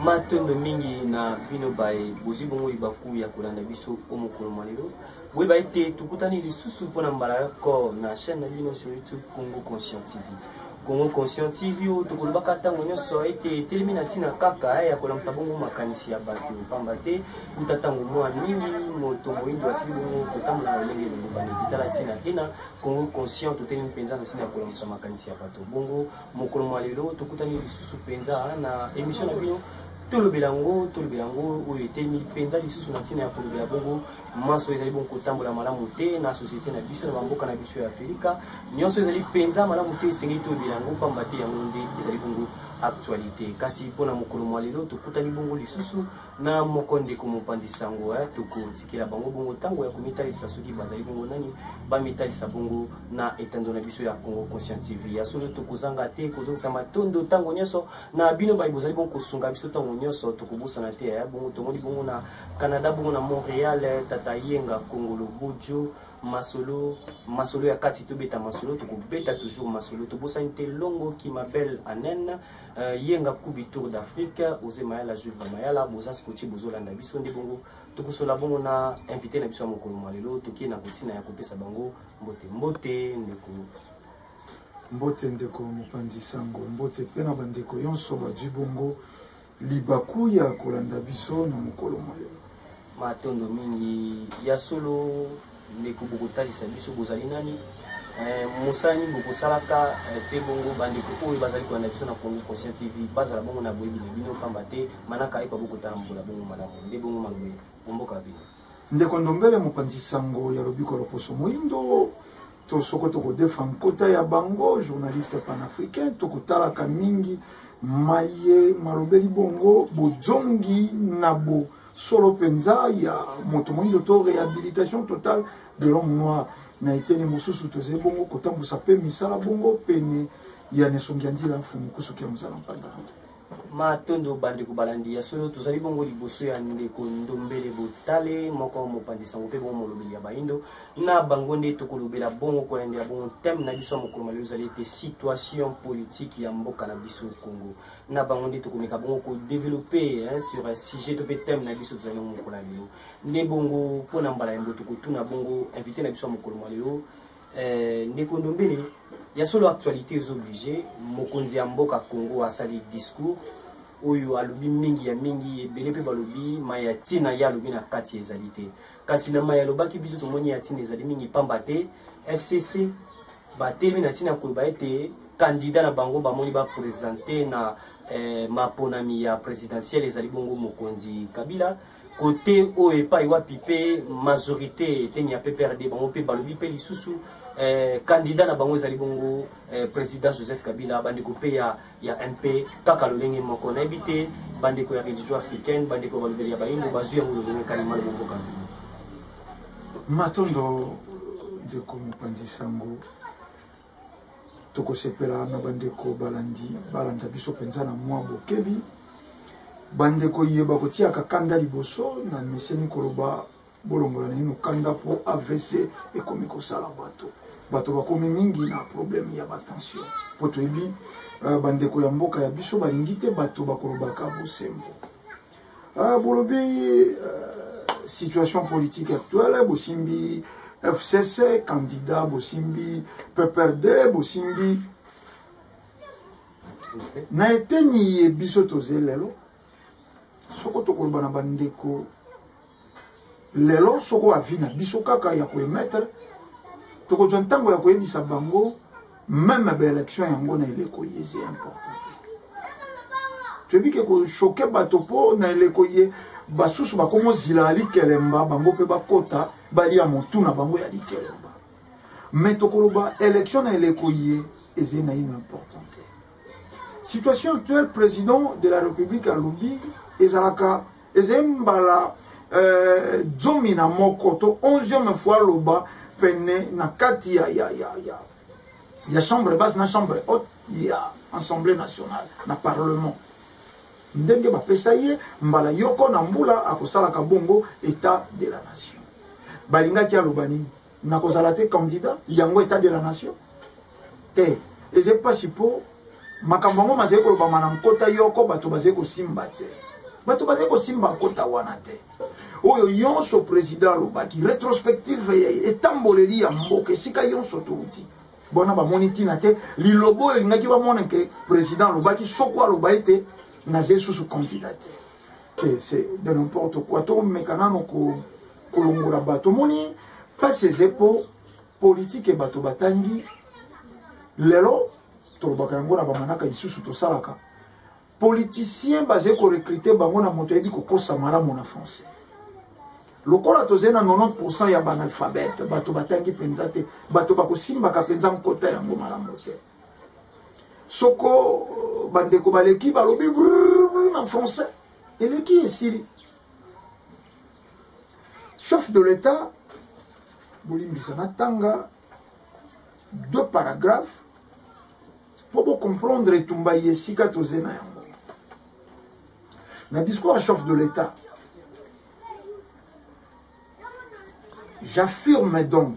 matondo mingi na bino baye bozwi bongo libaku ya kolanda biso o mokolo mwa lelo boyeba ete tokutani lisusu mpo na mbala yoko na chaîne na bino sur youtube congo conscient tv Congo Conscient TV oyo tokolobaka ntango nyonso ete etelemi na ntina kaka ya kolamwisa bongo makanisi ya bato mpamba te kuta ntango mwa mingi moto moindo asili bongo kotambola na lolenge elongobani etala ntina te na Congo Conscient totelemi mpenza na ntina ya kolamwisa makanisi ya bato bongo mokolo mwa lelo tokutani lisusu mpenza na emission na bino tolobela yango tolobela yango oyo etelemi mpenza lisusu na ntina ya kolobela bongo manso ezali bongo kotambola malamu te na société na biso na bamboka na biso ya afrika nyonso ezali mpenza malamu te esengeli toyebela yango mpamba te yango nde ezali bongo actualité kasi mpo na mokolo mwa lelo tokutani bongo lisusu na moko ndeko mopandi sango eh, tokotikela bango bongo ntango ya komitalisa soki bazali bongo nani bamitalisa bongo na etando na biso ya congo conscient tv ya solo tokozanga te kozongisa matondo ntango nyonso na bino baye bozali bongo kosunga biso ntango nyonso tokobosana te eh, bongo tomoni bongo na Canada bongo na Montreal eh, tata yenga kongolo bojo masolo masolo ya kati tobeta masolo tokobeta toujours masolo tobosani te longo kimabel anen uh, yenga kubi tour d'afrique oze mayala julva mayala boza scotchi bozolanda biso nde bongo tokosola bongo na invité na biso ya mokolo mwa lelo tokie na kotina ya kopesa bango mbote mbote ndeko mbote ndeko mopanzi sango mbote mpe na bandeko yonso bazwi bongo Libaku ya kolanda biso na mokolo mwa lelo. Matondo mingi ya solo ndeko bokotalisa biso bozali nani eh, mosala nini bokosalaka eh, mpe bongo bandeko oyo bazali kolanda biso na Congo Conscient TV bazala bongo na boyebi na bino mpamba te manaka epa bokotala mbola bongo malamu nde bongo maloba omboka bino Ndeko Ndombele mopanzi sango ya lobiko loposo moindo to soko tokodefa nkota ya bango journaliste panafricain tokotalaka mingi maye malobeli bongo bozongi na bo solo mpenza ya moto moindo to rehabilitation totale de l'homme noir na eteni mosusu tozali bongo kotambwisa mpe misala bongo pene ya nesongi ya nzila mfumu kusuki ya mozala mpanda Matondo bandeko balandi ya solo, tozali bongo liboso ya ndeko Ndombele Botale, moko mopanzi sango mpe bongo molobeli ya baindo. Na bango nde tokolobela bongo kolandela bongo thème na biso ya mokolo malio ezali ete situation politique ya mboka na biso Congo. Na bango nde tokomeka bongo ko développer hein, sur un sujet to mpe thème na biso tozali nango mokolo ya lelo. Nde bongo mpo na mbala yambo tokotuna bongo invité na biso ya mokolo malio Eh, ndeko ndombele ya solo actualité ezo oblige mokonzi ya mboka congo asali discours oyo alobi mingi ya mingi ebele mpe balobi mai ya ntina ye alobi na kati ezali te kasi na mai alobaki biso tomoni ya ntina ezali mingi mpamba te fcc batelemi na ntina ya koloba ete kandida na bango bamoni bapresente na eh, maponami ya presidentielle ezali bongo mokonzi kabila kote oyo epai wapi mpe majorité eteni ya pprd bango mpe balobi mpe lisusu eh, candidat na bango ezali bongo eh, président joseph kabila bandeko mpe ya, ya mp kaka lolenge moko nayebi te bandeko ya religion africaine bandeko ya balobeli ya bayimbo bazwi yango lolenge kalima lobomboka matondo ndeko mopanzi sango tokosepela na bandeko balandi balanda biso mpenza na mwa bokebi bandeko ye bakotiaka kanda liboso na meseni koloba bolongola naino kanda mpo avc ekomi kosala bato bato bakomi mingi na problème ya batension mpo toyebi euh, bandeko ya mboka ya biso balingi te bato bakolobaka bosembo Ah, bolobi euh, situation politique actuelle bosimbi fcc candidat bosimbi pprd bosimbi na eteni ye biso toze lelo soko tokoloba na bandeko lelo soko avi na biso kaka ya koemettre tokozwa ntango ya koyebisa bango meme baélection yango na eleko ye eza important te toyebi ke koshoke bato mpo na eleko ye basusu bakomi ozila ya likelemba bango mpe bakota balia motu na bango ya likelemba me tokoloba élection na eleko ye eza naino important te situation actuelle président de la république alobi ezalaka ezali mbala eh, zomi na moko to 11e fois aloba pene na kati ya, ya, ya, ya, ya chambre basse na chambre haute ya assemblée nationale na parlement ndenge bapesa ye mbala yoko na mbula akosalaka bongo etat de la nation balingaki aloba nini nakozala te candidat yango etat de la nation te eza mpasi mpo makambo yango mazali kolobama na nkota yoko bato bazali kosimba te bato bazali kosimba nkota wana te oyo yonso président alobaki rétrospective etamboleli ya mboka esika yonso touti bona bamoni ntina te liloba oyo elingaki bamona ke président alobaki soko aloba ete naza esusu kandida te te se de n'importe quoi tomeka nano kolongola bato omoni mpasi eze mpo politike bato batangi lelo tolobaka yango na bamanaka lisusu tosalaka politicien bazali korekrute bango na moto ayebi kokosa malamu na français lokola tozali na 90 ya banalphabete bato batangi mpenza te bato bakosimbaka mpenza nkota yango malamu te soko bandeko baleki balobi na français eleki esili chef de l'état bolimbisa natanga deux paragraphe mpo bocomprendre etumba ye esika toze na yango na discours ya chef de l'état j'affirme donc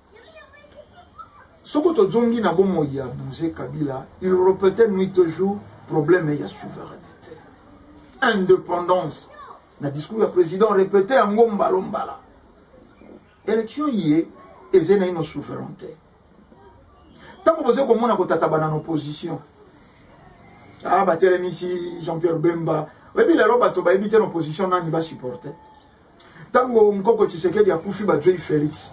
soko tozongi na bomoi ya bouge kabila il repete nuit au jour problème ya souveraineté indépendance na discours ya président repete yango mbalo mbala élection ye eze na ino souveraineté ntango boza komona kotatabana na opposition ah batelemisi jean pierre bemba oyebi lelo bato bayebi te na opposition nani basupporte Tango mkoko Tshisekedi akufi bazuei Felix.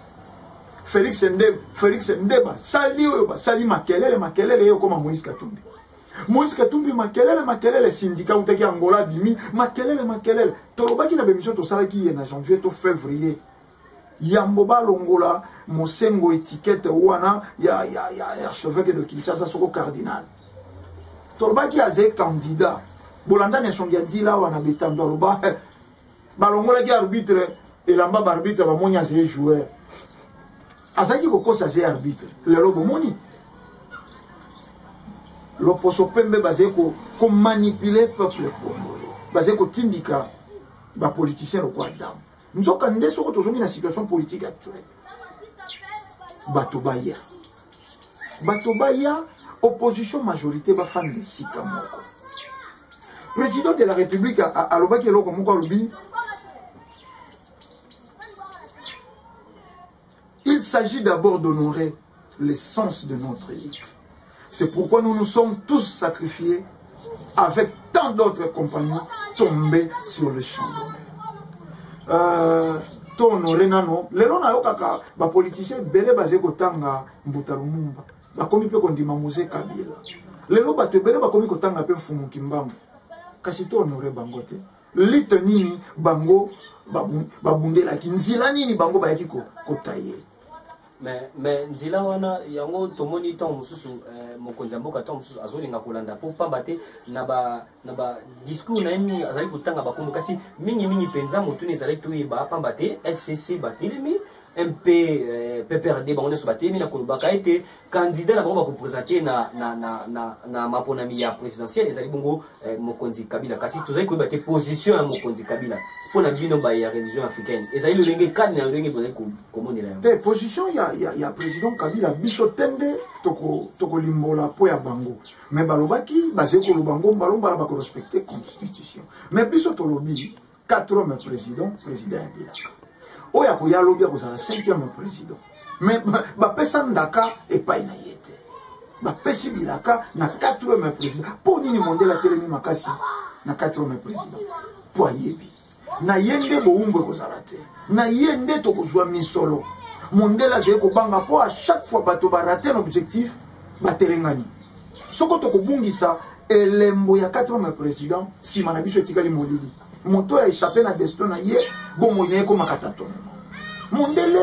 Felix nde Felix nde basali oyo basali makelele makelele yo koma Moïse Katumbi. Moïse Katumbi makelele makelele syndicat utaki Angola bimi makelele makelele tolobaki na bemission tosalaki ye na janvier to février yambo balongola mosengo etikete wana ya, ya, ya, ya cheveke de kinshasa soko cardinal tolobaki aze candidat bolandani esongi ya nzila wana bitando aloba balongolaki arbitre elamba baarbitre bamoni azali joueur azalaki kokosa azali arbitre lelo bomoni loposo pembe bazali komanipule peuple congolais bazali kotindika bapoliticien lokola dame nzoka nde soko tozongi na situation politique actuelle bato baya bato baya opposition majorité bafanda esika moko président de la république alobaki eloko moko alobi il s'agit d'abord d'honorer l'essence de notre lutte. C'est pourquoi nous nous sommes tous sacrifiés avec tant d'autres compagnons tombés sur le champ d'honneur. Euh, to honore nano lelo nayokaka bapoliticien ebele bazali kotanga mbuta lumumba bakomi mpe kondima mose kabila lelo bato ebele bakomi kotanga mpe mfumu kimbangu kasi to honore bango te lite nini bango babundelaki nzela nini bango bayaki kotaye mais mais nzela wana yango tomoni ntango mosusu eh, mokonzi ya mboka ntango mosusu azolinga kolanda mpo mpamba te na ba na ba discours na ye mingi azali kotanga bakombo kasi mingimingi mpenza motuni ezali toyeba mpamba te fcc batelemi mpe eh, pprd bango nyonso batelemi na kolobaka ete candidat na bango bakopresente na, na, na, na, na maponami ya présidentielle ezali bongo eh, mokonzi kabila kasi tozali koyeba te position ya mokonzi kabila mpo na bino baye ya religion africaine ezali lolenge kani na lolenge bozali komonela yango te position ya, ya, ya président kabila biso tende tokolimbola toko mpo ya bango me balobaki bazali koloba ngombalomba na bakorespecte constitution me biso tolobi quatrième président président ya bilaka oyo akoya lobi akozala cinquième président mais bapesa ndaka epai na ye te bapesi bilaka na quatrième président mpo nini mondele atelemi makasi na quatrième président mpo ayebi na ye nde bowumbu ekozala te na ye nde tokozwa misolo mondele azali kobanga mpo a chaque fois bato barate na objectif batelengani soko tokobungisa elembo ya 4 ans ya president nsima na biso etikali molili moto ya echappe na destin na ye bomoi na ye ekomaka tatonema mondele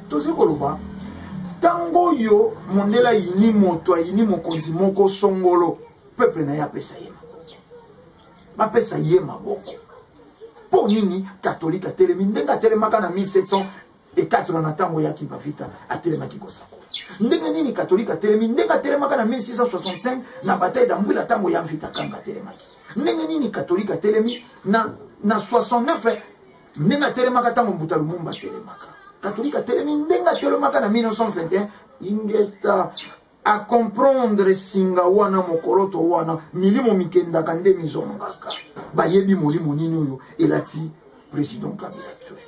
tozali koloba ntango oyo mondele ayini moto ayini mokonzi moko songolo peuple na ye apesa ye maboko bapesa ye maboko mpo nini katolike atelemi ndenge atelemaka na 1700 ekatelo na ntango ya kimpavita atelemaki kosakola ndenge nini katolike atelemi ndenge atelemaka na 1665 na bataille dambwila ntango ya mvita kanga atelemaki ndenge nini katolike atelemi na, na 69 ndenge atelemaka ntango mbuta lumumba atelemaka katolike atelemi ndenge atelemaka na 1921 ingeta a comprendre singa wana mokoloto wana milimo mikendaka nde mizongaka bayebi molimo nini oyo elati président kabila actuel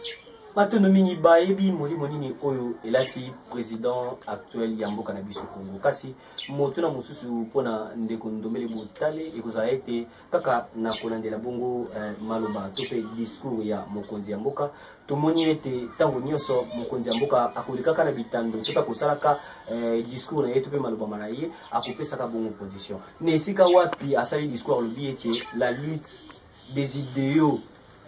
batono mingi bayebi molimo nini oyo elati président actuel ya mboka na biso congo kasi motuna mosusu mpona ndeko ndombele botale ekozala ete kaka na kolandela bongo eh, maloba to mpe discours ya mokonzi ya mboka tomoni ete ntango nyonso mokonzi ya mboka akolekaka na bitando to mpe akosalaka eh, discours na ye to mpe maloba ma na ye akopesaka bongo position na esika wapi asali discours alobi ete la lutte des idéaux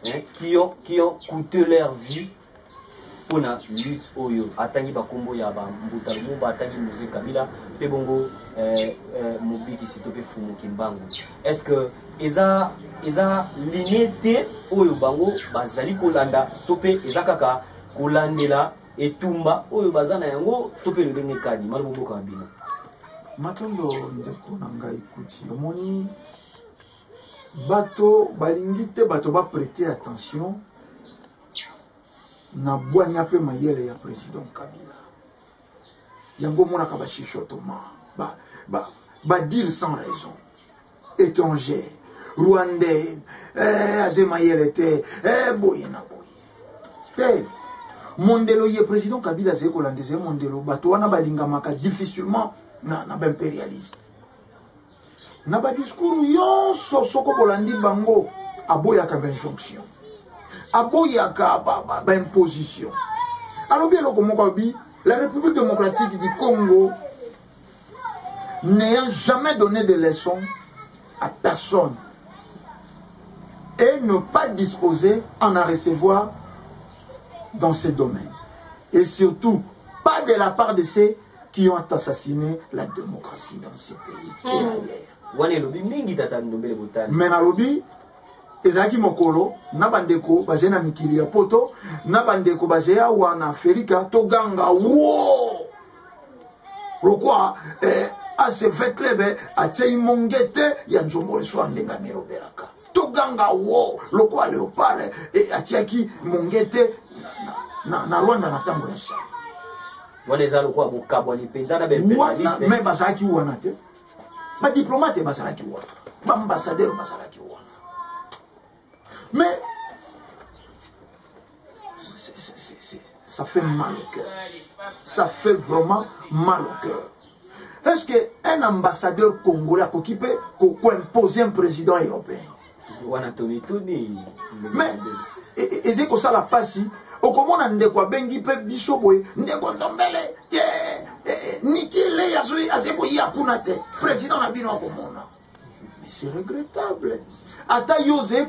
hein, qui, ont, qui ont coûté leur vie pona lutte oyo atangi bakombo ya ba mbuta lumumba atangi muse kabila pe bongo eh, eh, mobikisi to pe fumu kimbangu est ce que eza eza linie te oyo bango bazali kolanda to pe eza kaka kolandela etumba oyo baza na yango to pe lolenge kani malobo boka na bino matondo ndeko na ngai kuti omoni bato balingi te bato baprete attention na bwanya mpe mayele ya president kabila yango omonaka bachichotoma badire ba, ba, ba sans raison étranger rwandais eh, aze mayele te eh, boye na boye te mondelo ye président kabila azali kolanda ezali mondelo bato wana balingamaka difficilement na, na baimpérialiste na badiskur nyonso soko bolandi bango aboyaka bainjonction aboyaka baimposition ba, ba alobi eloko moko alobi la république démocratique du congo n'ayant jamais donné de leçon à personne et ne pas disposer en à recevoir dans ces domaines et surtout pas de la part de ces qui ont assassiné la démocratie dans ce pays et hmm. ailleurs. wana elobi mingi tata ndombele botali me nalobi ezalaki mokolo na bandeko bazali na mikili ya poto na bandeko bazali awa na afrika toganga wo lokwa eh, acv club eh, atiei mongete ya nzombo leso andenge amelobelaka toganga wo lokwa leopard eh, atiaki mongete na, na, na, na rwanda na ntango ya shamba wana eza lokola bokabwani mpenza na wana me bazalaki wana te badiplomate bazalaki wana baambasadeur bazalaki wana mais ça fait mal au cœur ça fait vraiment mal au cœur est ce que un ambassadeur congolais akoki mpe koimpose un président européen wana tomituni mais e, e, ezali kosala mpasi okomona ndeko abengi mpe biso boye ndeko ndombele ye eh, eh, niki lei azali koya kuna te président na bino akomona c'est regrettable ata yo ozali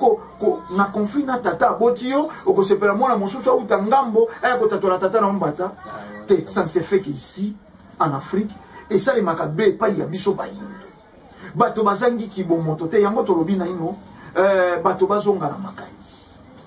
na conflit na tata aboti yo okosepela mwana mosusu auta ngambo aya kotatola tata na ombata ah, te ça ne se fait que ici en afrique esalemaka be epai ya biso bayindo bato bazangi kibomoto te yango tolobi naino euh, bato bazonga na makanisi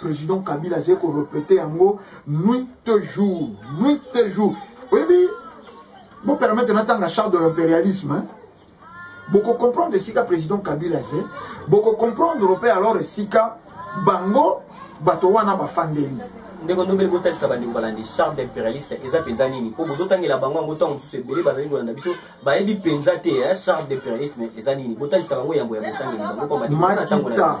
President Kabila azali ko repeter yango nuit et jour, nuit et jour. Oyebi, bo permettre natanga charte de l'impérialisme, hein? boko comprendre esika président kabila aze boko comprendre mpe alors esika bango bato wana bafandeli ndeko ndombele botalisa bandeko balandi charme d'impérialiste eza mpenza nini mpo bozotangela bango yango ntango mosusu ebele bazali kolanda biso bayebi mpenza te charme d'impérialisme eza nini botalisa bango yambo ya botangeli bango mpo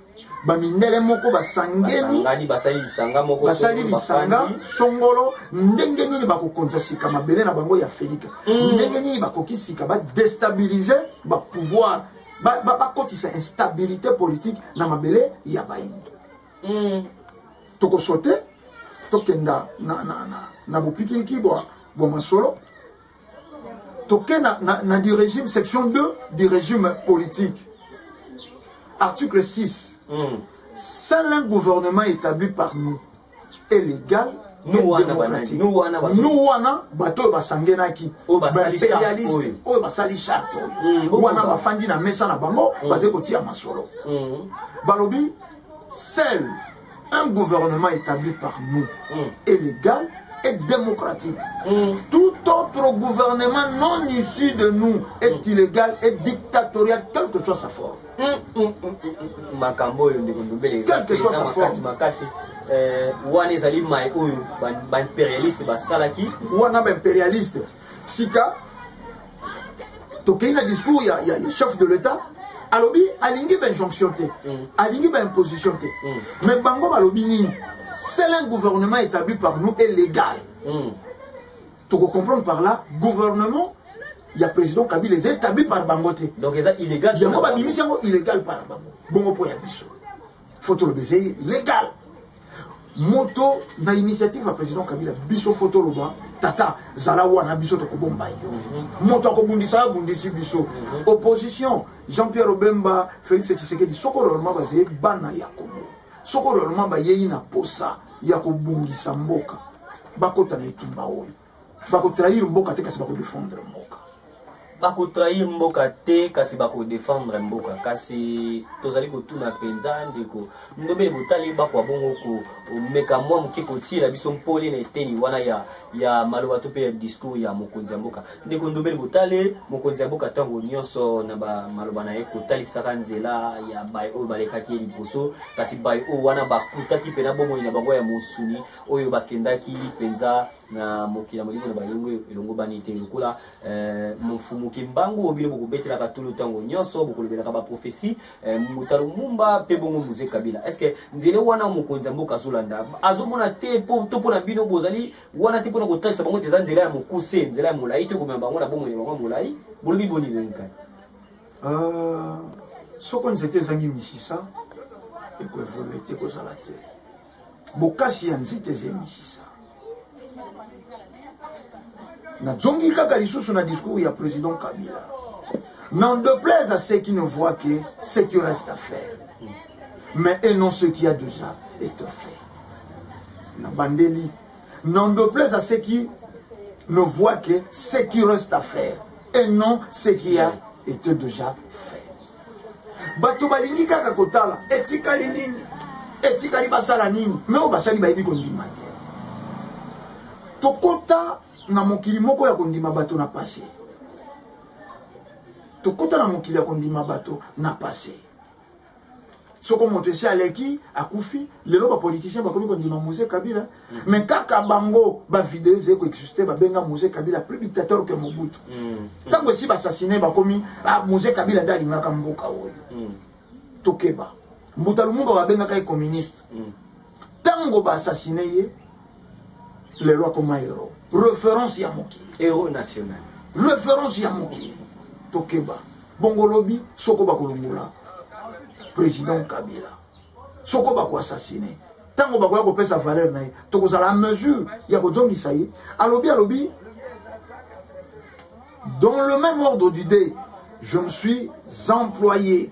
bamindele moko basangeli basali lisanga moko basali lisanga songolo ndenge nini bakokonza sika mabele na bango ya felika mm. ndenge nini bakoki sika badestabilize bapouvoir bakotisa ba, ba instabilité politique na mabele ya bayindo mm. tokosote tokenda na, na, na, na bopikiliki bwa, bwa masolo toke na, na, na du régime section 2 du régime politique article 6 mm. seul un gouvernement établi par nous est légal nous wana bato oyo basangenaki baimperialiste oyo basali charte mm, wana bafandi na mesa na bango mm. bazali kotia masolo mm. balobi seul Un gouvernement établi par nous mm. est légal et démocratique. Mm. Tout autre gouvernement non issu de nous est mm. illégal et dictatorial, quelle que soit sa forme. Mm, mm, mm, mm, mm. makambo oyo ndeko ndobele eza mpenza makasi makasi eh, wana ezali mai oyo baimperialiste basalaki wana baimperialiste sika tokei na discours ya, ya, ya chef de l'état alobi alingi bainjonction te mm. alingi baimposition te mm. mais bango balobi nini seul un gouvernement établi par nous est légal mm. tokocomprendre par là gouvernement ya président kabila eza établi par bango te yango babimisi yango illégal par bango bongo mpo ya biso faut toloba ezei legal moto na initiative ya président kabila biso faut toloba tata zala wana biso tokobomba yo mhm. moto akobundisa abundisi biso mhm. opposition jean pierre obemba félix tshisekedi soko réellement bazali bana ya kongo soko réellement bayei na posa ya kobungisa mboka bakota na etumba oyo bako trahir mboka te kasi bako defendre mboka bako trahir mboka te kasi bako defendre mboka kasi tozali kotuna mpenza ndeko ndobele botali bakwa bongo komeka mwa moke kotiela biso mpole na eteni wana ya, ya maloba to mpe ya discours ya mokonzi ya mboka ndeko ndobele botale mokonzi ya mboka ntango nyonso na bamaloba na ye kotalisaka nzela ya baye oyo balekaki ye liboso kasi baye oyo wana bakutaki mpe na bomoi na bango ya mosuni oyo bakendaki mpenza na mokili ya molimo na balongo elongobani te lokola eh, mfumu kimbangu oyo bino bokobetelaka tulu ntango nyonso bokolobelaka baprofesi eh, mutalo mumba mpe bongo muze kabila est ce que nzele wana mokonzi ya mboka azolanda azomona te to mpo na bino bozali wana te mpo na kotalisa bango te eza nzela ya mokuse nzela ya molai te komema bango na bomoi na bango ya molai bolobi boni lenkani ah, soko nzete ezangi misisa ekoevolue te ekozala te bokasi ya nzete eza emisisa nazongi kaka lisusu na discours ya président kabila n'en déplaise à ceux qui ne voient que ce qui reste à faire mais et non ce qui a déjà été fait na bandeli n'en déplaise à ceux qui ne voient que ce qui reste à faire et non ce qui a été déjà fait bato balingi kaka kotala etikali nini etikali basala nini me oyo basali bayebi kondima te tokota na mokili moko ya kondima bato na pase tokota na mokili ya kondima bato na pase soko moto esi aleki akufi lelo bapoliticien bakomi kondima mose kabila me mm. kaka bango bavideo ezali koexiste babenga mose kabila plus dictateur ke mobutu mm. ntango esi basasine bakomi ah, mose kabila nde alingaka mboka oyo mm. tokeba mbuta lumumba babengaka ye communiste tango ba assassine ye lelo akoma hero reference ya mokili hero national reference ya mokili tokeba bongo lobi soko bakolongola président kabila soko bakoassassine ntango bakoya kopesa valeur na ye tokozala en mesure ya kozongisa ye alobi alobi dans le même ordre d'idée je me suis employé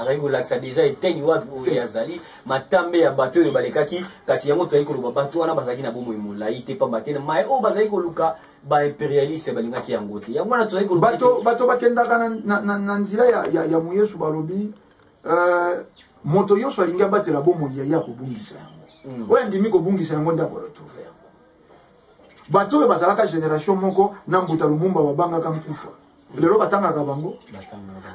azali kolakisa deja eteni wapi oyo ye azali matambe ya bato oyo balekaki kasi yango tozali koloba bato wana bazalaki na bomoi molai te mpamba te mai oyo bazali koluka baimperialiste balingaki yango te yango wana tozali kolobato bakendaka na nzela ya moyesu balobi euh, moto nyonso alingi abatela bomoi ya ye akobungisa yango hmm. oyo andimi kobungisa yango nde akoretrouve yango bato oyo bazalaka generation moko na mbuta lumumba babangaka nkufa lelo batangaka bango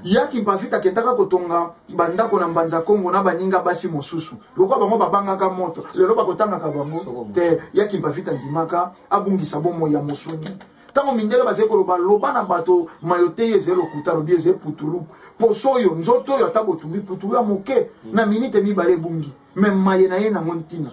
ya kimpavita akendaka kotonga bandako na mbanza kongo na baninga basi mosusu lokola bango babangaka moto lelo bakotangaka bango te ya kimpavita ndimaka abungisa bomoi ya mosuni ntango mindele bazali koloba loba na bato mayo te ye ezali lokuta alobi eza eputulu poso oyo nzoto oyo ata botumbi putulu ya moke na minite mibale ebungi me maye na ye nango ntina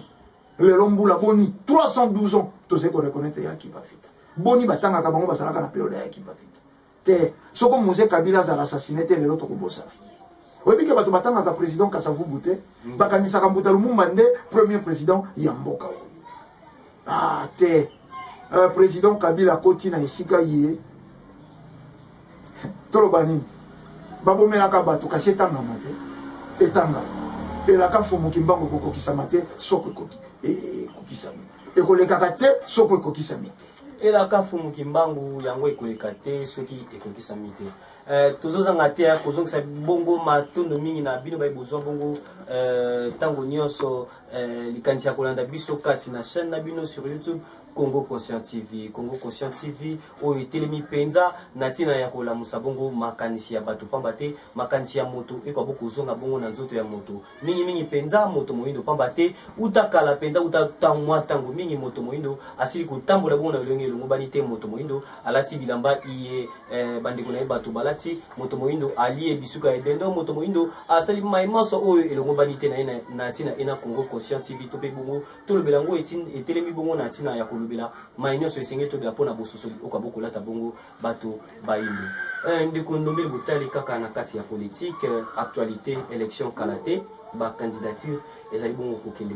lelo mbula boni 312 ans tozali koreconnaitre ya akiba vita boni batangaka bango bazalaka na periode ya akiba vita te soko mose kabila azala assassine te lelo tokobosana ye oyebi ke bato batangaka président kasavubu te mm. bakanisaka mbuta lumumba nde premier président ya mboka oyo ah te euh, président kabila akoti na esika ye toloba nini babomelaka bato kasi etangama te etanga elaka mfumu kimbangu ekokokisama te soko ekokisami ekolekaka te soko ekokisami te elaka mfumu kimbangu yango ekoleka te soki ekokisami te Eh, tozozanga te ya kozongisa bongo matondo mingi na bino baye bozwa bongo eh, ntango nyonso eh, likanisi ya kolanda biso kati na chaîne na bino sur youtube congo conscient tv congo conscient tv oyo etelemi mpenza na ntina ya kolamusa bongo makanisi ya bato mpamba te makanisi ya moto ekoka bo kozonga bongo na nzoto ya moto mingimingi mpenza moto moindo mpamba te uta kala mpenza uta mwa ntango mingi moto moindo asili kotambola bongo na elongi elongobani te moto moindo alati bilamba iye eh, bandeko na ye bato balati moto moindo alie bisuka ya dendo moto moindo asali mai manso oyo elongobani te na ye na ntina ena congo conscient tv to mpe bongo tolobela yango etelemi bongo na ntina ya kolobela mai nyonso esengeli tobela mpo na bososoli oka bokolata bongo bato bayindo eh, ndeko ndombeli botali kaka na kati ya politike eh, actualité élection kala te bacandidature ezali bongo kokende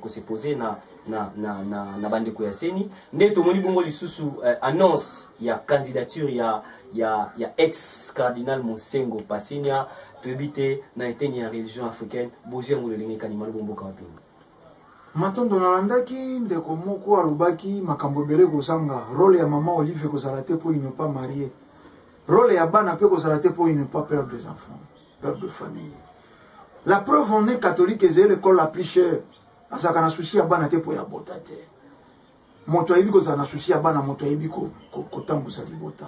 kosepose eh, na, na, na, na, na bandeko ya seni nde tomoni bongo lisusu eh, annonce ya candidature ya, ya, ya ex cardinal mosengo pasinia Toyebi te na eteni ya religion africaine bozwi yango lolenge kani malobo mboka wapi yango. Matondo nalandaki ndeko moko alobaki makambo ebele kozanga role ya mama Olive ekozala te mpo il ne pas marie role ya bana mpe ekozala te mpo il ne pas père des enfants père de famille la preuve on est catholique ezali l'école la plus chère azalaka na souci ya bana te mpo ya bota te moto ayebi kozala na susi ya bana moto ayebi kotambusa libota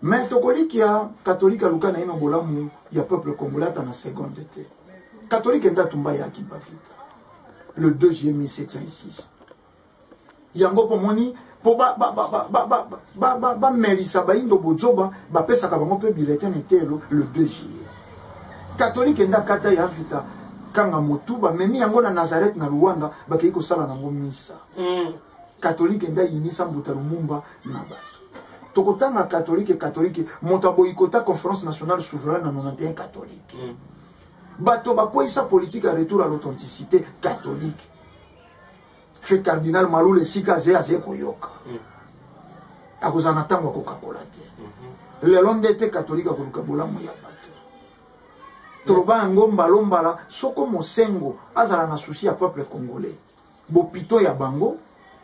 me tokolikia katolike aluka na ino bolamu ya peuple congolais ata na seconde te katolike nde atumba ya akimba vita le 2 juillet 1706 yango mpo moni mpo bamelisa bayindo bozoba bapesaka bango mpe biletin na eteyelo le 2 juillet katolike nde akata ya vita kanga motu bamemi yango na nazareth na luanda bakei kosala nango misa mm. katolike nde ayinisa mbuta lumumba na bato tokotanga katolike katolike moto aboyikota conférence nationale souveraine na 91 katolike mm. bato bakweyisa politike ya retour à l'authenticité katolike fe cardinal malula esika aze aze koyoka mm. akozala na ntango ya kokakola te mm-hmm. lelo nde te katolike akoluka bolamu ya bato toloba yango mbalombala soko mosengo azala na susi ya peuple congolais bopito ya bango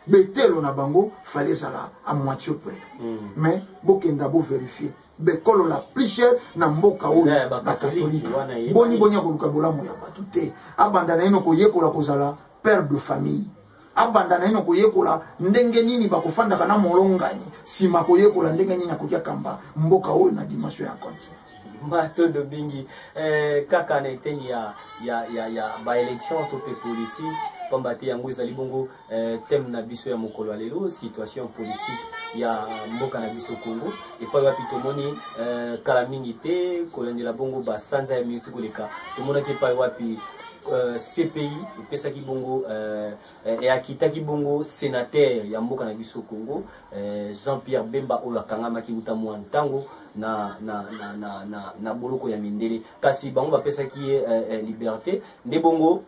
betelo na bango fale ezala a moitié près mm. mais bokenda boverifie bekolola plisher na mboka oyo eh, bakatolike boni boni akoluka bolamu ya bato te abanda naino koyekola kozala père de famille abanda naino koyekola ndenge nini bakofandaka na molongani nsima koyekola ndenge nini akoki akamba mboka oyo na dimension ya continent matondo mingi eh, kaka na eteni ya, ya, ya, ya baélection to mpe politike mpamba te yango ezali bongo eh, teme na biso ya mokolo ya lelo situation politique ya mboka na biso congo epai wapi tomoni eh, kala mingi te kolandela bongo basanza ya miuti koleka tomonaki epai wapi eh, cpi epesaki bongo eh, Eh, eh, akitaki bongo senatere ya mboka na biso congo eh, jean pierre bemba oyo akangamaki uta mwa ntango na, na, na, na, na, na boloko ya mindele kasi bango bapesaki ye eh, eh, liberté nde bongo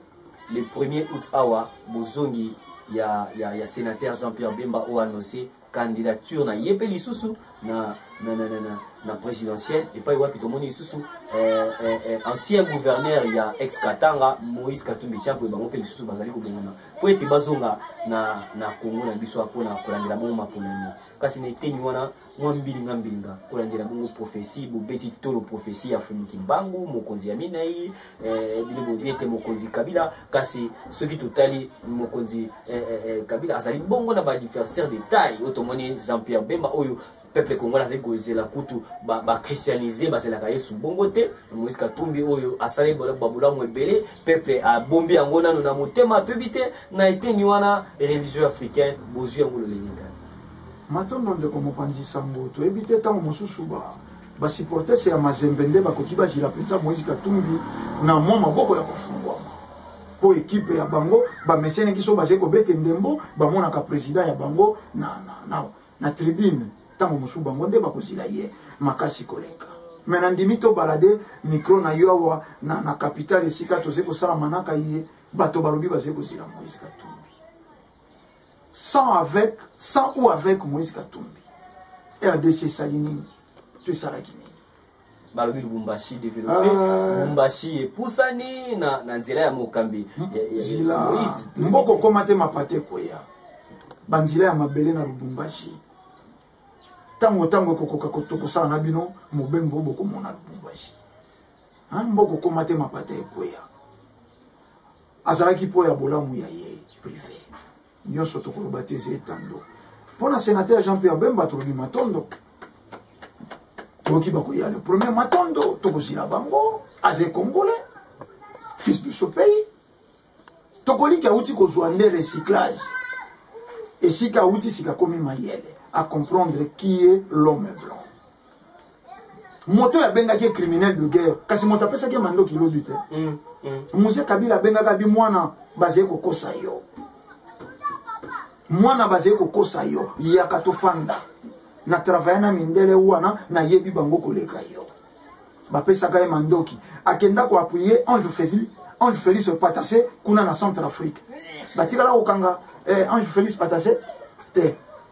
le premier août awa bozongi ya, ya, ya senatere jean pierre bemba oyo anonse candidature na ye mpe lisusu na, na, na, na, na, na présidentielle epai wapi tomoni lisusu eh, eh, eh, ancien gouverneur ya ex katanga moïse katumbi chapo bango mpe lisusu bazali kobengana mpo ete bazonga na, na congo na biso mpo na kolandela bongo maponami kasi na eteni wana mwa mbilinga mbilinga kolandela bongo profesi bobeti tolo profesi ya fumi kimbangu mokonzi ya minei eh, bino boyebi ete mokonzi kabila kasi soki totali mokonzi eh, eh, eh kabila azali bongo na baadversaire de taille oyo tomoni jean pierre bemba oyo peuple congolais azali kozela kutu bachristianise ba bazelaka yesu bongo te moïse katumbi oyo asali babolamu ebele peuple abombi yango nano na motema toyebi te na eteni wana religion africaine bozwi yango lolenge kani matondo ndeko mopanzi sango toyebi te ntango mosusu ba Ba supporters ya Mazembe nde bakoki bazila mpenza Moïse Katumbi na mwa maboko ya kofungwama mpo ekipe ya bango bameseneki so bazali kobete ndembo bamonaka president ya bango na, na, na, na tribune ntango mosusu bango nde bakozila ye makasi koleka me nandimi tobalade mikro na yo awa na, na kapitale esika tozali kosala manaka ye bato balobi bazali kozila Moïse Katumbi sans avec sans ou avec moïse katumbi rdc esali nini to esalaki nini balobi lubumbashi developpe ah. lubumbashi epusani na, na nzela ya mokambi zila mboka okoma te mapata ekweya banzela ya mabele na lubumbashi ntango ntango ekokoka kosala na bino mobembo bokomona lubumbashi mboka okoma te mapata ekweya azalaki mpo ya bolamu ya ye prive nyonso tokoloba te eza etando mpo na senateur jean pierre bemba tolobi matondo toyoki bakoya le premier matondo tokozila bango aza ekongole fils du sopei tokoliki awuti kozwa nde recyclage esika awuti sika akomi mayele acomprendre qui est l'homme blanc moto oyo abengaki ye criminel de guerre kasi moto apesaki ye mandoki lobi te mm, mm. muse kabila abengaka bi mwana bazali kokosa yo mwana bazali kokosa yo yaka tofanda na travaille na mindele wana nayebi bango koleka yo bapesaka ye mandoki akenda koapuye ange feli ange félix patase kuna na centre afrique batikala kokanga eh, ange félix patase te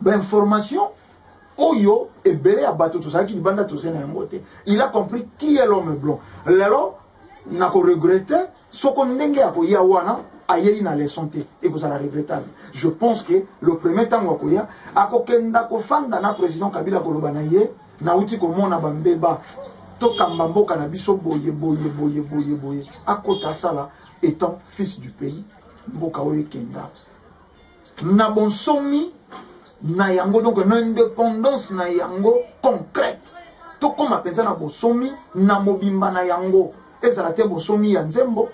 bainformation oyo ebele ya bato tozalaki libanda toze na yango te il a compris qui est l'homme blanc lelo nakoregrete soko ndenge ya koya wana ayei na leson te ekozala regrettable je pense que le premier ntango akoya akokenda kofanda na président kabila koloba na ye nauti komona bambeba tokamba mboka na biso boye boye boye boye boye akota asala étant fils du pays mboka oyo ekenda na bonsomi na yango donc na indépendance na yango concrète tokóma mpenza na bosomi na mobimba na yango ezala te bosomi ya nzembo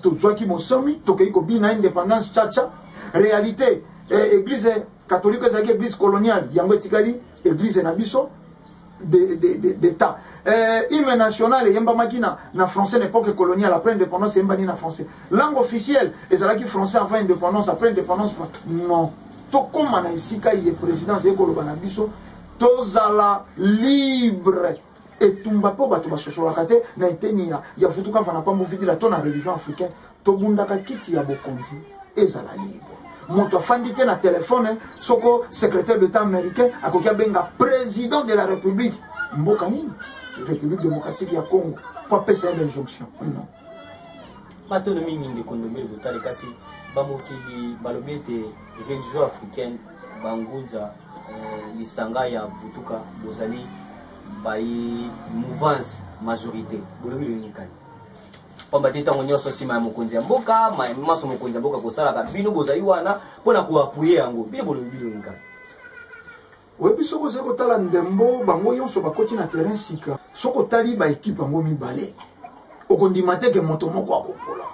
tozwaki bosomi tokei kobina indépendance caca réalité eh, église catholique ezalaki église coloniale yango etikali église na biso de, de, de, d'état euh, hymne national eyembamaki na, na français na époque coloniale après indépendance eyembani na français langue officielle ezalaki français avant indépendance après indépendance non tokóma na esika ye présidence ye koloba na biso tozala libre etumba mpo bato basosolaka te na eteni ya, ya vutuka mfana mpambo vidila to na religion africaine tobundaka kiti ya bokonzi ezala libre moto afandi te na telefone soko secrétaire d'état américain akoki abenga président de la république mboka nini république démocratique ya congo mpo apesa ye bainjonction non batono mingi ndeko ndobe botali kasi bamokili balobi ete religion africaine bangunza eh, lisanga ya vutuka bozali bayi mouvance majorité bolobi lolingikani pamba te ntango nyonso nsima ya mokonzi ya mboka manso mokonzi ya mboka kosalaka bino bozali wana mpo na koapuye yango bino bolobi bilongi kaka oyebi soki ozali kotala ndembo bango nyonso bakoti na terrain sika soki otali baekipe yango mibale okondima te ke moto moko akopola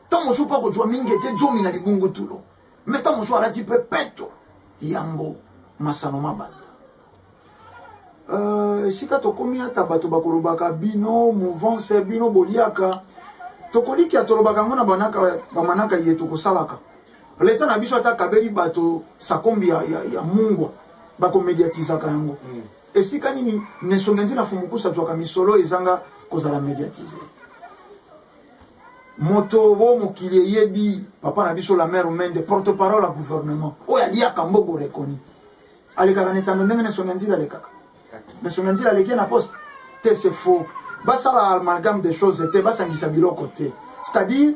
ntango mosusu mpe akozwa mingi ete jomi na libungutulu me ntango mosusu alati mpe peto yambo masano mabanda Euh, esika tokomi ata bato bakolobaka bino mouvance bino boliaka tokolikia tolobaka yango na bamanaka ye tokosalaka leta na biso ata akabeli bato sakombi ya, ya, ya mungwa bakomediatizaka yango mm. esika nini nesonge nzi na fumukusa zwaka misolo ezanga kozala mediatise moto bo mokili eyebi papa na biso la mare mende porte parole ya gouvernement oyo aliaka mbogo rekoni alekaka na etando ndenge na songa nzila alekaka na songa nzila aleki na poste te c'est faux basala amalgame des choses te basangisa biloko te c'est-à-dire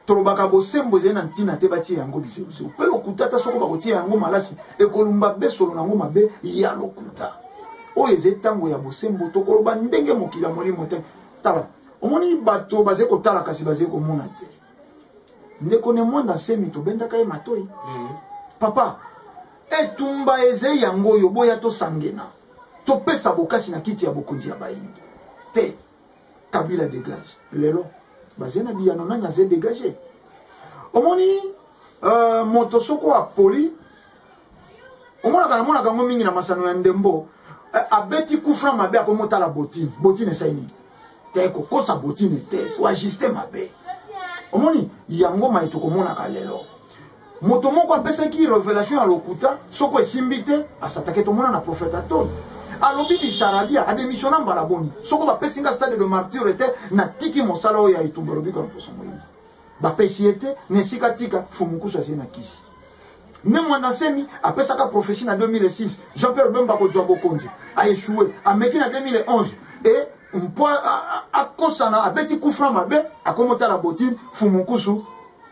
tolobaka bosembo ezali na ntina te batie yango bizebuzebu mpe lokuta ata soko bakotia yango malasi ekolumba besolo na yango mabe ya lokuta oyo ezali ntango ya bosembo tokoloba ndenge mokili ya molimo te tala omoni bato bazali kotala kasi bazali komona te ndeko ne mwanda nsemi tobendaka ye matoi mm. papa etumba ezei yango oyo boya tosangena topesa bokasi na kiti ya bokonzi ya bayindo te kabila degage lelo baze na biyano nani aze degage omoni uh, moto soko apoli omonaka namonaka yango mingi na masano ya ndembo eh, abeti kufra mabe akomi otala botine botine esai nini te kokosa botine te oajuste mabe omoni yango mai tokomonaka lelo moto moko apesaki revelation ya lokuta soko esimbi te asatake tomona na profete atoni alobi bisarabia ademisiona mbala boni soko bapesi nga stade de martyre te natiki mosala oyo ya etumba alobi kaloposo moyini bapesi ye te na esika tika fumukusu azie na kisi me mwanda nsemi apesaka prophesie na 2006 jean pierre bemba kozwa bokonzi aechoue ameki na 2011 e mpo akosana abeti kufra mabe akomi otala botine fumukusu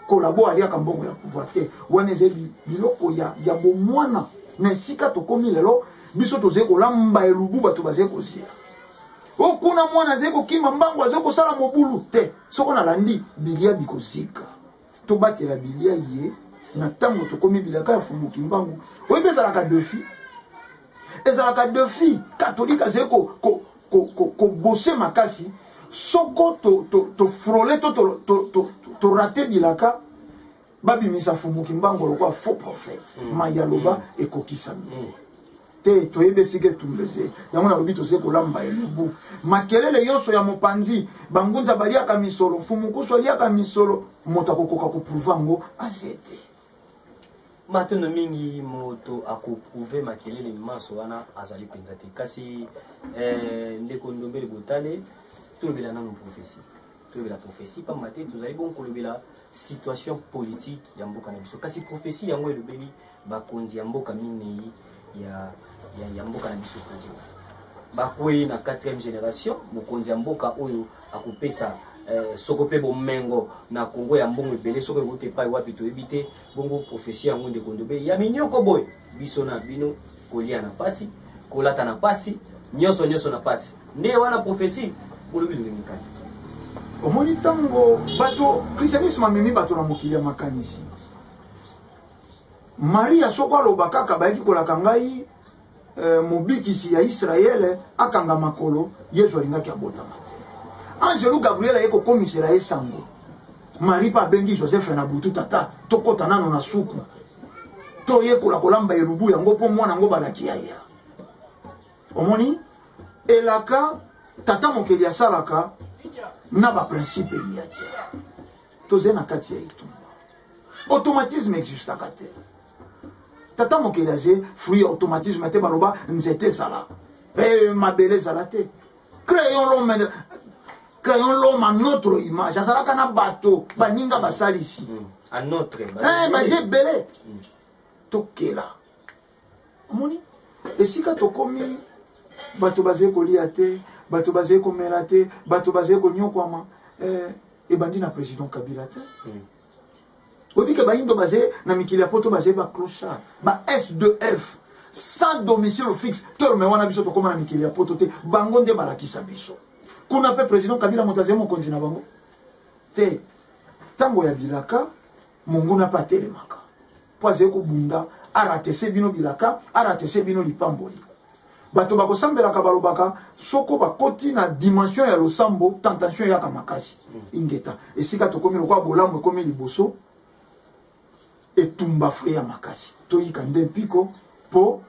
kolabo aliaka mbongo ya pouvoir te wana ezali biloko ya, ya bomwana na esika tokomi lelo biso tozali kolamba elubu bato bazali kozela o kuna mwana azali kokima mbango azali kosala mobulu te soko nalandi bilia bikozika tobatela bilia ye na ntango tokomi bilaka ya fumu kimbangu oyebi ezalaka defi ezalaka defi katolike azali kobose ko, ko, ko makasi soko tofrole to, to, to, to, to, to, to rate bilaka babimisa fumu kimbangu lokola faux prophète mm. mai ya loba mm. ekokisami te mm. te toyebi esika etumblese yango nalobi tozali kolamba elubu makelele nyonso ya mopanzi bangunza baliaka misolo fumukusu aliaka misolo moto akokoka koprouve yango aze te matondo mingi moto akoprouve makelele manso wana azali mpenza te kasi eh, ndeko ndombele botale tolobela nano profesi tolobela prophetie mpamba te tozali bongo kolobela situation politique ya mboka na biso kasi prophetie yango elobeli bakonzi ya mboka minei ya, ya, ya mboka na biso kongo bakwei na 4e génération mokonzi ya mboka oyo akopesa eh, soko mpe bomengo na kongo ya mbongo ebele soko ekoki epai wapi toyebi te bongo profesi yango ndeko ndobe ya minyoko boye biso na bino kolia na pasi kolata na pasi nyonso nyonso na pasi nde wana profesi bolobi lolenge kani omoni ntango bato christianisme amemi bato na mokili ya makanisi maria soko aloba kaka bayaki kolaka ngai eh, mobikisi ya israele akanga makolo yezu alingaki abotama te angelu gabriel aye kokomisela ye sango marie mpe abengi joseph na butu tata tokɔta nano na suku toyekola kolamba elubu yango mpo mwana yango balaki yaya omoni elaka tata mokeli asalaka na baprincipe ya te tozali na kati ya etumba automatisme existaka te tata mokeli aze fruit ya automatisme te baloba nzete ezala e, mabele ezala te créons l'homme créons l'homme à notre image azalaka na bato baninga basalisi eh, baza ebele mm. tokela omoni esika tokomi bato bazali kolia te bato bazali komela te bato bazali konyokwama eh, ebandi na président kabila te mm. oyebi ke bayindo baze na mikili ya poto baze ba clochard ba s2f sans domicile fixe terme wana biso tokóma na mikili ya poto te bango nde balakisa biso kuna mpe président kabila moto azali mokonzi na bango te ntango ya bilaka monguna mpe atelemaka mpo azali kobunda aratese bino bilaka aratese bino lipamboli bato bakosambelaka balobaka soko bakoti na dimension ya losambo tentation eyaka makasi mm. ingeta esika tokomi lokola bolamu ekomi liboso etumba fre ya makasi toyika nde mpiko mpo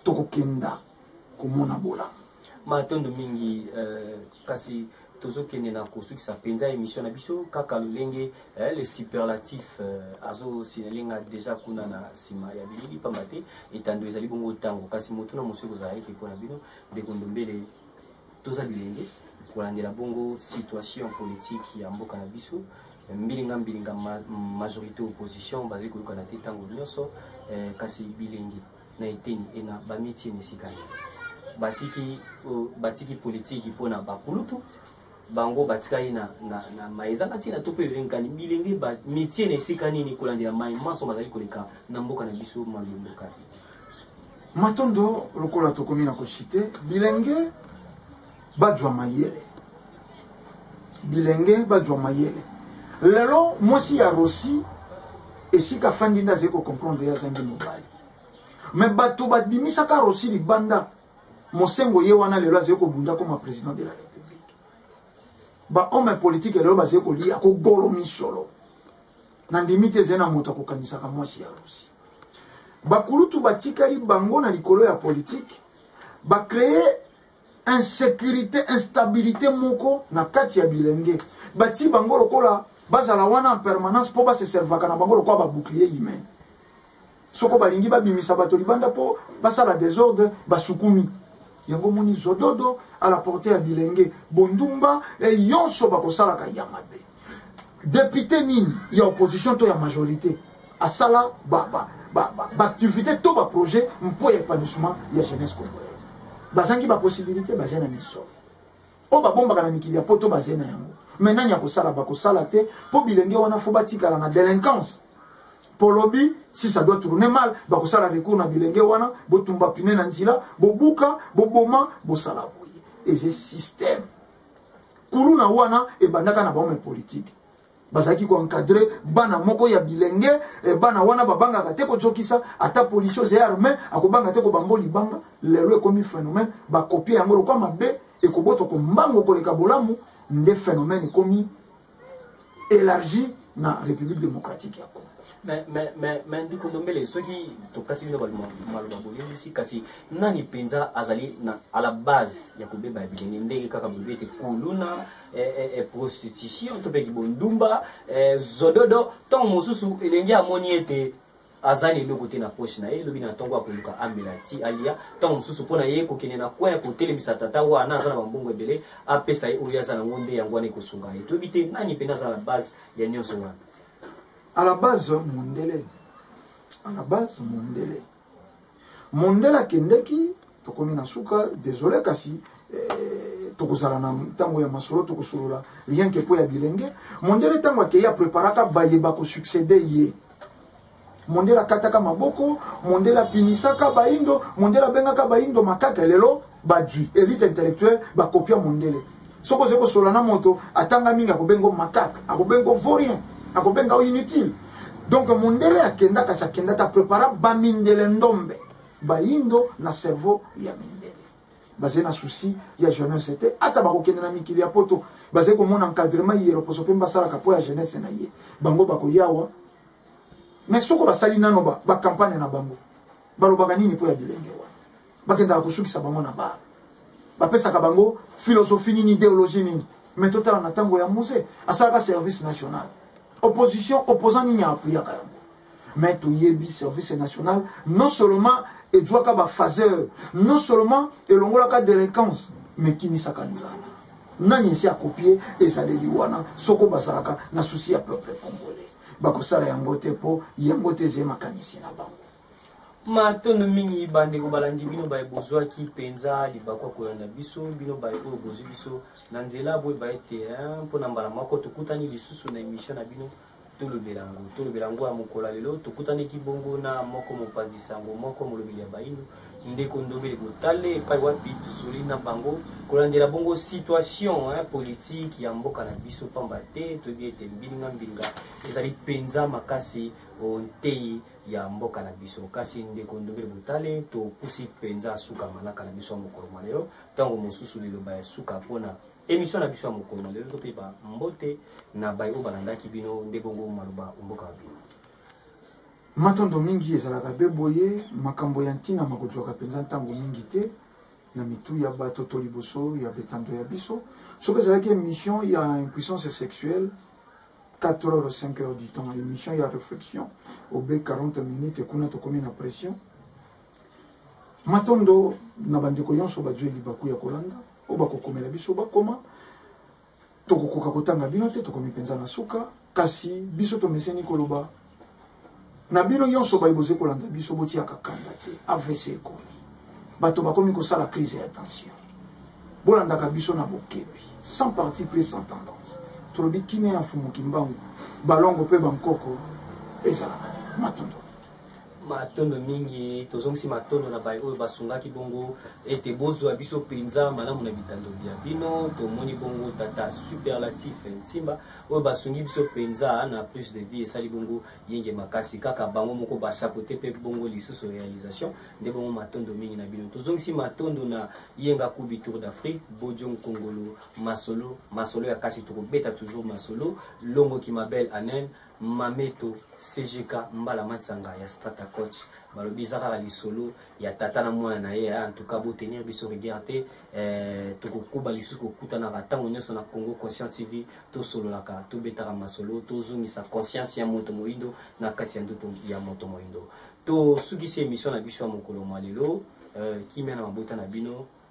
tokokenda komona bolamu matondo mingi uh, kasi tozokende na kosukisa mpenza emission na biso kaka lolenge eh, le superlatif eh, azosinele nga deja kuna na nsima ya bilili mpamba te etando ezali bongo ntango kasi motuna mosusu ekozala ete mpo na bino ndeko ndombele toza bilenge kolandela bongo situation politique ya mboka na biso mbilinga mbilinga ma, majorité opposition bazali koyokana te ntango nyonso eh, kasi bilenge na eteni ena bamitie na esika nini batiki, uh, batiki politiki mpo na bakulutu bango batikali na, na, na mai ezanga ntina to mpe elengani bilenge bamitie na esika nini kolandela mai manso mazali koleka na mboka na biso malumbuka matondo lokola tokomi na koshite bilenge bajwa mayele bilenge bajwa mayele lelo mwasi ya rosi esika afandi nde azali kocomprendre ye azangi mobali me bato babimisaka rosi libanda mosengo ye wana lelo azali kobunda koma président de la république bahomme politique lelo bazali kolia kogolo misolo nandimi te ezali na moto akokanisaka mwasi ya rosi bakulutu batikali bango na likolo ya politike bacreye insecurite instabilité moko na kati ya bilenge bati bango lokola bazala wana en permanence mpo baseservaka na bango lokola babouclier humain soko balingi babimisa bato libanda mpo basala desordre basukumi yango moni zododo à la porte ya bilenge bondumba e yonso bakosalaka ya mabe Député nini ya opposition to ya majorité asala ba ba ba ba, ba activité to ba projet mpo ya épanouissement ya jeunesse congolaise. Bazangi ba possibilité bazali na misolo. Oyo babombaka na mikili ya poto bazali na yango. Mais nani akosala bakosala te mpo bilenge wana fo batikala na délinquance. polobi si ça doit tourner mal bakosala recours na bilenge wana botumba pine na nzela bobuka boboma bosala boye eze système kuluna wana ebandaka na bahomme politique bazalaki koencadre bana moko ya bilenge eh, bana wana babangaka te kozokisa ata polisi oza arme akobanga te kobambo libanga lelo ekomi phénomène bakopie yango lokwa mabe ekoboto kombango koleka bolamu nde phénomène ekomi élargie na république démocratique ya congo me ndiko ndombele soki tokati bino maloba bolelisi kasi nani mpenza azali na à la base ya kobeba ya bilenge ndenge kaka bolobi ete kuluna eh, eh, eh, prostitution to mpe kibondumba zododo ntango mosusu elenge amoni ete aza na eloko te na poche na ye lobi na ntongo akoluka amela ti alia ntango mosusu mpo na ye kokende na coin kotelemisa tata wana aza na bambongo ebele apesa ye oyo aza nango nde yango wana ekosunga ye toyebi te nani mpena aza na base ya nyonso wana à la base mondele à la base mondele mondele akendeki tokomi na suka desole kasi eh, tokozala na ntango ya masolo tokosolola rien ke mpo ya bilenge mondele ntango akei apreparaka baye bakosuccede ye mondele akataka maboko mondele apinisaka baindo mondele abengaka baindo makaka lelo badui elite intellectuelle bakopia mondele soki ozali kosolola na moto atanga mingi akobenga makaka akobenga vorien akobenga inutile donc mondele akenda kasi akenda ta prepara bamindele ndombe Bayindo na cerveau ya mindele bazali na souci ya jeunesse te ata bakokende na mikili ya poto bazali komona encadrement ye loposo mpe basalaka mpo ya jeunesse na ye bango bakoyawa me soko basali nano bacampagne ba na bango balobaka nini mpo ya bilenge wana bakendaka kosukisa bango na baa bapesaka bango philosophie nini ideologie nini me totala na ntango ya muse asalaka service national opposition opposant nini aapuyaka yango mais toyebi service national non seulement ejuaka bafaseur non seulement elongolaka délinquance mais kimisaka nzala nani esi akopie ezaleli wana soko bazalaka na susi ya peuple congolais bakosala yango te mpo yango te ezali makanisi na bango matondo mingi bandeko balandi bino baye bozwaki mpenza libaku ya kolanda biso bino baye oyo bozwi biso na nzela boyeba ete mpona mbala moko tokutani lisusu na emission na bino tolobela yango tolobela yango ya mokolo ya lelo tokutanaki bongo na moko mopanzi sango moko molobeli ya bayindo ndeko ndobele botale epai wapi tosoli na bango kolandela bongo situation hein, politique ya mboka na biso pamba te toyebi ete mbilinga mbilinga ezali mpenza makasi ontei ya mboka na biso kasi ndeko ndobele botale topusi mpenza suka manaka na biso ya mokolo mwa lelo ntango mosusu liloba ya suka mpona Emission na biso ya mokolo na lelo tope ba mbote na baye oyo balandaki bino nde bongo maloba mboka wa bino. Matondo mingi ezalaka be boye makambo ya ntina makozwaka mpenza ntango mingi te na mitu ya bato to liboso ya betando ya biso soki ezalaki émission ya impuissance sexuelle 4 heures 5 heures du temps émission ya réflexion obe 40 minutes kuna tokomi na pression matondo na bandeko nyonso bazwi libaku ya kolanda oyo bakokomela biso bakoma tokokoka kotanga bino te tokomi mpenza na suka kasi biso tomeseni koloba na bino nyonso baye boze kolanda biso botiaka kanda te avc ekomi bato bakomi kosala crise ya tension bolandaka biso na bokebi sans parti pris sans tendance tolobi kimia ya mfumu kimbangu balongo mpe bankoko ezalaka matondo Matondo mingi, tozongisi matondo na baye oyo basungaki bongo ete bozwa biso mpenza malamu na bitando bya bino. Tomoni bongo tata superlatif Nsimba oyo basungi biso mpenza na plus de vie, esali bongo yenge makasi, kaka bango moko ba chapeaute mpe bongo lisusu realisation. Nde bongo matondo mingi na bino. Tozongisi matondo na Yenga Kubi Tour d'Afrique, Bojo Nkongolo, masolo masolo ya kati, tokobeta toujours masolo, Longo Kimabel Anen Mameto, CGK, Mbala Matsanga ya Strata Coach balobi eza kaka lisolo ya tata na mwana na ye eh, en tout cas bo tenir biso rigueur te eh, tokokoba lisusu kokutanaka ntango nyonso na Congo Conscient TV tosololaka tobetaka masolo tozongisa conscience ya moto moindo na kati ya ndoto ya moto moindo tosukisi emission na biso ya mokolo mwa lelo eh, kimia na mabota na bino